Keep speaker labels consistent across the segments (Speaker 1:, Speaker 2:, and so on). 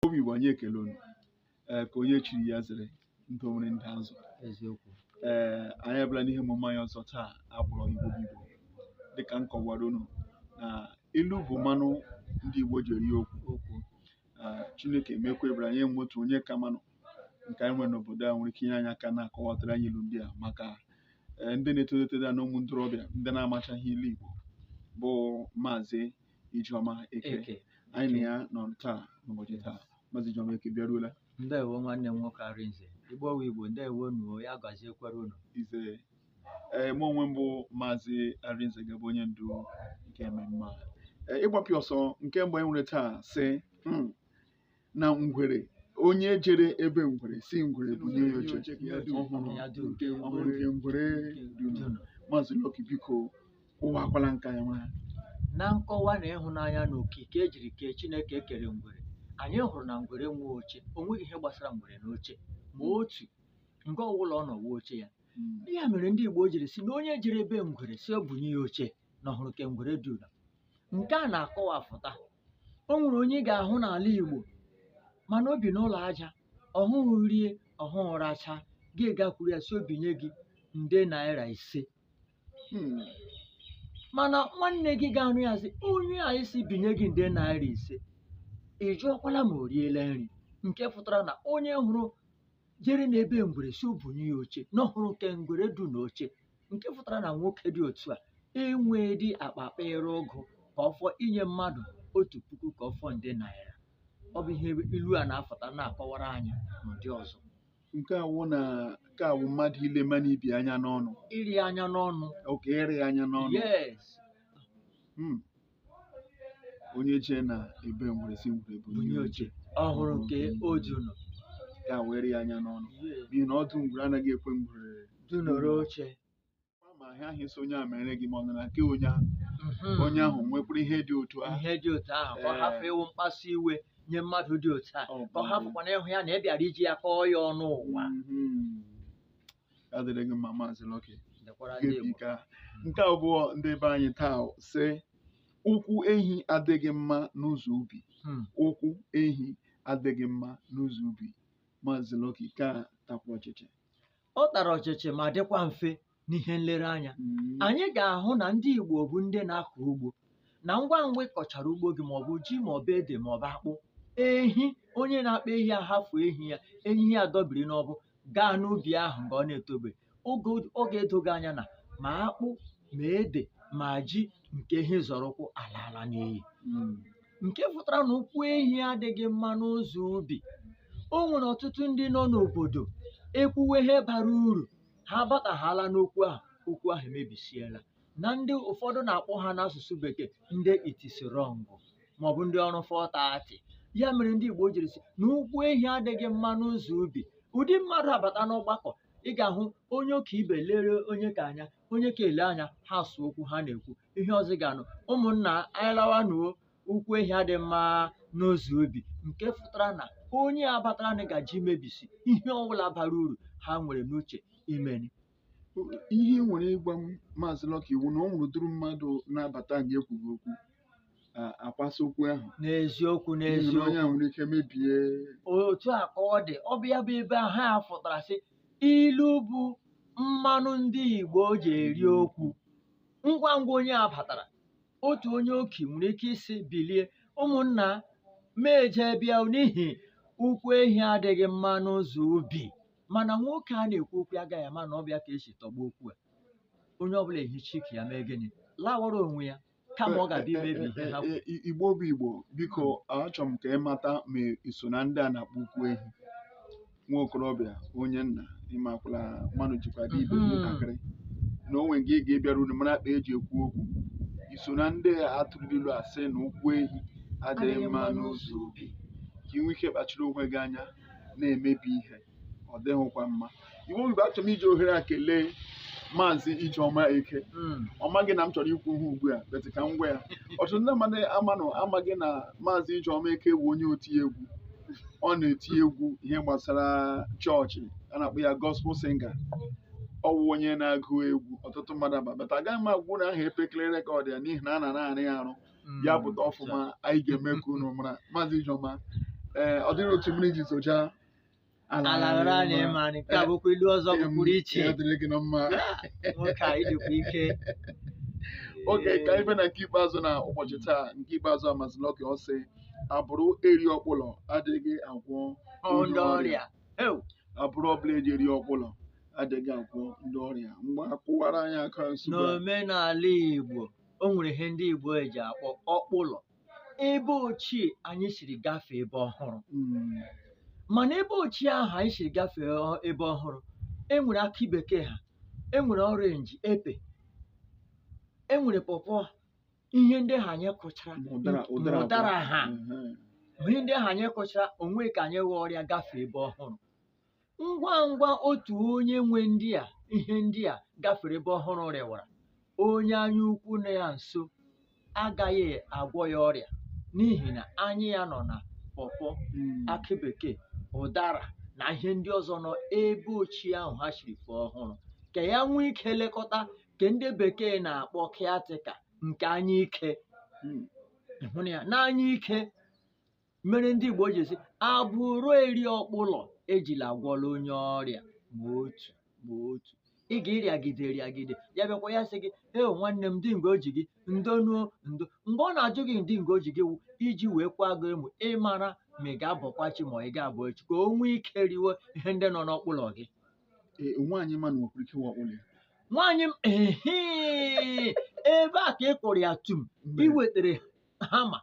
Speaker 1: Igbo bụ Igbo anyị ekele unu ee nke onye chiri ya zere ndị onwere ndị azụ eziokwu ee anyị abịala n'ihe omume anyị ọzọ taa a kpọrọ Igbo bụ Igbo dịka m kọwara unu na ilu bụ mmanụ ndị Igbo ji eri okwu okwu ee, Chineke emekwa ebere anyị enwe otu onye ka mmanụ nke anyị nwere n'obodo a nwere ike inye anyị aka na-akọwatara anyị ilu ndị a maka ee, ndị na-etolite na ụmụ ntorobịa ndị na-amachaghị ilu Igbo bụ maazị Ijeọma Eke Eke. anyị na ya nọ taa n'ụbọchị taa Maazị Ijeọma Eke bịaruola Ndewo nwanne m nwoke Arinze. Igbo wụ Igbo, ndewo nụ o, ya gaziekwara unu. Isee ee mụ onwe m bụ Maazị Arinze ga-abụ onye ndu nke mmemme a Ee, ịgbapịa ọsọ nke mbụ anyị nwere taa sị "Hmm, na ngwere onye jere ebe ngwere sị ngwere bunye ya oche ọ hụrụ ọ hụrụ nke ngwere dunu maazị Lucky biko kọwakwara nke a nwa na nkọwa na ịhụnanya na okike e jiri kee Chineke ekere ngwere anyị hụrụ na ngwere enwe oche o nweghị ihe gbasara ngwere na oche ma otu nga ọwụla ọ nọ wụ oche ya ya mere ndị Igbo jiri sị na onye jere ebe ngwere sị o bunye ya oche na ọ hụrụ nke ngwere dunu nke a na-akọwafụta o nwere onye ị ga-ahụ n'ala Igbo ma na o bi n'ụlọ aja ọ hụrụ rie ọ hụrụ racha gị gakwuru ya sị o binye gị nde naira ise Hmm. mana nwanne gị ga-anụ ya sị onye a ị sị binye gị nde naira ise ị jụọkwala ma o riela nri nke fụtara na onye hụrụ jere n'ebe ngwere sị o bunye ya oche na ọ hụrụ nke ngwere du na oche nke fụtara na nwoke dị otu a enwee dị akpa akpa ere ụgụ ka ọ fọ inye mmadụ otu puku ka ọ fọ nde naira ọ bụ ihe ilu a na-afụta na-akọwara anyị n'ụdị ọzọ nke a wụ na nke a wụ mmadụ ile mmadụ ibe ya anya n'ọnụ iri anya n'ọnụ oke ịrị anya n'ọnụ yes Hmm. onye jee na ebe ngwere sị ngwere bu bunye oche ọ hụrụ nke o ji ụlọ ka were ya anya n'ọnụ n'ihi na ọdụ ngwere anaghị ekwe ngwere du nọrọ oche Ọ ma ihe ahụ ị sị onye a mere gị ma ọ nọ na nke onye ahụ Mhm. onye ahụ nwekwara ihe dị otu ahụ ihe dị otu ahụ ka ọ Ee. hafụ ịwụ mkpasu iwe nye mmadụ dị otu a Ọ ka ọ bụ. hafụkwana ịhụ ya na ị bịara iji ya kọọ ya ọnụ ụwa Mhm. ya dịrị gị mma maazị Lucky Dịkwara ndị Igbo. nke a nke abụọ ndị be anyị taa sị ụkwụ ehi adịghị mma n'ụzọ ubi Hmm. ụkwụ ehi adịghị mma n'ụzọ ubi maazị Lucky nke a takwa ọchịchị Ọ tara ọchịchị ma dịkwa mfe n'ihe nlereanya. Mm. Anyị ga-ahụ na ndị Igbo bụ ndị na-akọ ugbo na ngwa ngwa ị kọchara ugbo gị maọbụ ji maọbụ ede maọbụ akpụ ehi onye na-akpa ehi ahafụ ehi ya ehi ya adọbiri n'ọbụ gaa n'ubi ahụ mgbe ọ na-etobe ọ ga-edo gị anya na ma akpụ ma ede ma ji nke ehi zọrọ ụkwụ alaala n'iyi nke pụtara na ụkwụ ehi adịghị mma n'ụzọ ubi o nwere ọtụtụ ndị nọ n'obodo e kwuwe ihe bara uru ha batahaala n'okwu ahụ okwu ahụ emebisiela na ndị ụfọdụ na-akpọ ha n'asụsụ bekee ndị it is wrong maọbụ ndị ọrụ fọtati ya mere ndị Igbo jiri sị na ụkwụ ehi adịghị mma n'ụzọ ubi ụdị mmadụ a bata n'ọgbakọ ị ga-ahụ onye ọkaibe lere onye ka anya onye ka ele anya ha sụ okwu ha na-ekwu ihe ọzọ ị ga-anụ ụmụnna anyị lawanụ o ụkwụ ehi adị mma n'ụzọ ubi nke pụtara na onye a bataranụ gaje imebisi ihe ọbụla bara uru ha nwere n'uche imeni ihe ị nwere ịgwa m maazị Lucky wụ na o nwere ụdịrị mmadụ na-abata anyị ekwughị okwu akwasa okwu ahụ n'eziokwu n'eziokwu o nwere ike mebie otu a ka ọ dị ọ bụ ya bụ ebe ahụ a fụtara sị ilu bụ mmanụ ndị Igbo ji eri okwu ngwa ngwa onye a batara otu onye okii nwere ike isi bilie ụmụnna m jee bịa n'ihi ụkwụ ehi adịghị mma n'ụzọ ubi mana nwoke a na-ekwu okwu ya agaghị ama na ọ bụ ya ka e si tọgbọ okwu a onye ọbụla ehicha ike ya mee gịnị lawara onwe ya kama ọ ga-abịa imebi ihe ha kwuru. I- Igbo bụ Igbo biko achọrọ m ka ị mata ma ị so na ndị a na-akpọ ụkwụ ehi nwa okorobịa onye nna ịmakwala mmadụ jikwa dị ibe Mhm. ntakịrị na o nwere nke ị ga-ebịaru unu mara kpa e ji ekwu okwu i so na ndị a tụrụ ilu a sị na ụkwụ ehi adịghị mma n'ụzọ ubi ka i nwee ike kpachara onwe gị anya na-emebi ihe ọ dịghịkwa mma iwu mgbe achọrọ m iji ohere a kelee maazị Ijeọma Eke ọ maghị na m chọrọ ikwu ihe a ugbu a but ka m gwa ya ọtụtụ ndị mmadụ amanụ amaghị na maazị Ijeọma Eke bụ onye oti egwu ọ na-eti egwu ihe gbasara chọọchị a na-akpọ ya gospel singer ọ wụ onye na-agụ egwu ọtụtụ mmadụ ma but agaghị m agwa unu aha epekele record ya n'ihi na a na-arụ ya arụ ya pụta ọfụma anyị ga-eme ka unu mara maazị Ijeọma ee ọ dịrị otu mmiri ji zocha ala ghara anyị mma. ma nke a bụkwa ilu ọzọ Ee, pụrụ iche ya dịrị gị na mma nwoke a ịdịkwa ike oge ka anyị fee na nke ikpeazụ na ụbọchị taa nke ikpeazụ a maazị Lucky ọ sị abụrụ eri ọkpụlọ adịghị agwọ Ọ ndị ọrịa Eu, abụrụ ọbụla eji eri ọkpụlọ adịghị agwọ ndị ọrịa mgbe akụwara anyị aka nsogbu a. n'omenala Igbo o nwere ihe ndị Igbo eji akpọ ọkpụlọ ebe ochie anyị siri gafee ebe ọhụrụ mm. mana ebe ochie ahụ anyị siri gafee ebe ọhụrụ e nwere akị bekee ha e nwere orange epe e nwere pọpọ ihe ndị ahụ anyị kụchara ụdara ha ihe ndị ahụ anyị kụchara o nwe ka anyị ghọọ rie ya gafee ebe ọhụrụ ngwa ngwa otu onye nwe ndị a ihe ndị a gafere ebe ọhụrụ rịwara onye anya ukwu na ya nso agaghị agwọ ya ọrịa n'ihi na anya ya nọ na pọpọ akị bekee ụdara na ihe ndị ọzọ nọ ebe ochie ahụ ha shiri fee ọhụrụ ka ya nwee ike lekọta ka ndị bekee na-akpọ caretaker nke anya ike hụrụ ya n'anya ike mere ndị Igbo ji sị abụrụ eri ọkpụlọ ejila agwọla onye ọrịa ma otu ma otu ị ga-ịrịagide rịagide ya bịakwa ya sị gị e nwanne m ndị nga o ji gị ndo nuo ndo mgbe ọ na-ajụ gị ndị nga o ji gị wụ iji wee kwa gị emu ịmara ma ị ga-abọkwa chi ma ọ ga-abụ echi ka o nwee ike riwe ihe ndị nọ n'ọkpụlọ gị e, nwaanyị ma na nwekwara ike wụ ọkpụlọ ya nwaanyị m ebe a ka ị kụrụ ya tum i wetara hammer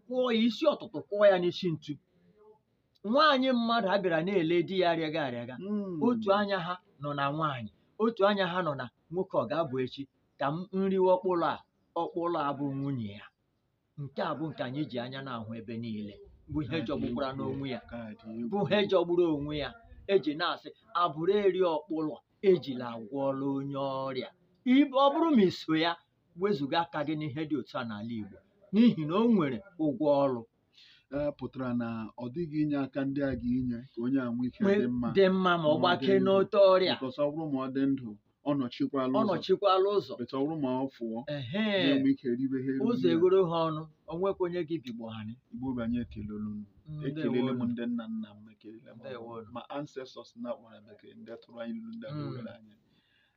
Speaker 1: kụọ ya isi ọtụtụ kụọ ya n'isi ntu nwaanyị mmadụ a bịara na-ele di ya arịaga arịaga Mm. otu anya ha nọ na nwaanyị otu anya ha nọ na nwoke ọ ga-abụ echi ka m riwe ọkpụlọ a ọkpụlọ a bụ nwunye ya nke a bụ nke anyị ji anya na-ahụ ebe niile bụ ihe jọgbukwara n'onwe ya Nke a dị egwu. bụ ihe jọgburu onwe ya eji na-asị abụrụ eri ọkpụlọ ejila agwọla onye ọrịa Ib- ọ bụrụ ma i so ya wezụga aka gị n'ihe dị otu a n'ala Igbo n'ihi na o nwere ụgwọ ọrụ ee pụtara na ọ dịghị inye aka ndị a ga-inye ka onye a nwee ike Nwee- dị mma dị mma ma ọ Ma ọ gbakee dị ndụ. n'ute ọrịa because ọ bụrụ ma ọ dị ndụ ọ nọchikwala ọ ụzọ nọchikwala ụzọ but ọ bụrụ ma ọ fụọ ehe na-enwe ike ribe ha ụzọ eriri ya. eghoro ha ọnụ o nwekwa onye gị bigbo ha nị. Igbo bụ anyị ekelele m ekelele m Ndewonu. ndị nna nna m ekelele m Ndewonu. ma ancestors na akpọrọ bekee ndị tụrụ anyị ilu ndị Mm. awere anyị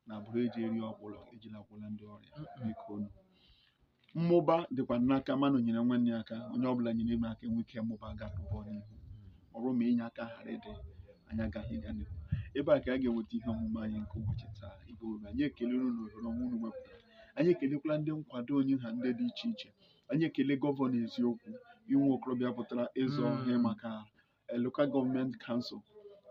Speaker 1: na abụrụ eji eri ọkpụlọ ejila agwọla ndị ọrịa biko unu mmụba dịkwa n'aka mmadụ nyere nwanne ya aka onye ọbụla nyere ibe aka enwee ike mmụba gaba n'ihu ọ bụrụ ma inye aka ghara ịdị anyị agaghị ịga n'ihu ebe a ka a ga-enweta ihe omume anyị nke ụbọchị taa Igbo bụ anyị ekelere unu ohere ọma unu wepụtara anyị ekelekwala ndị nkwado onye ha ndị dị iche iche anyị ekele gọvanọ eziokwu inwe okorobịa pụtara ịzọ Mm. ihe maka eh, Local Government Council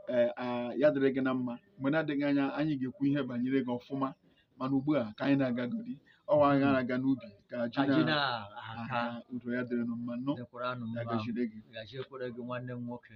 Speaker 1: eh, ah, ya dịrị gị na mma mgbe na-adịghị anya anyị ga-ekwu ihe banyere gị ọfụma mana ugbu a ka anyị na-agagodi ọ wụ anyị na-aga n'ubi ka ji Ajị na na-aka aka udo ya dịrị nụ mma nọ dịkwara nụ ya mma gaziere gị gaziekwara gị nwanne m nwoke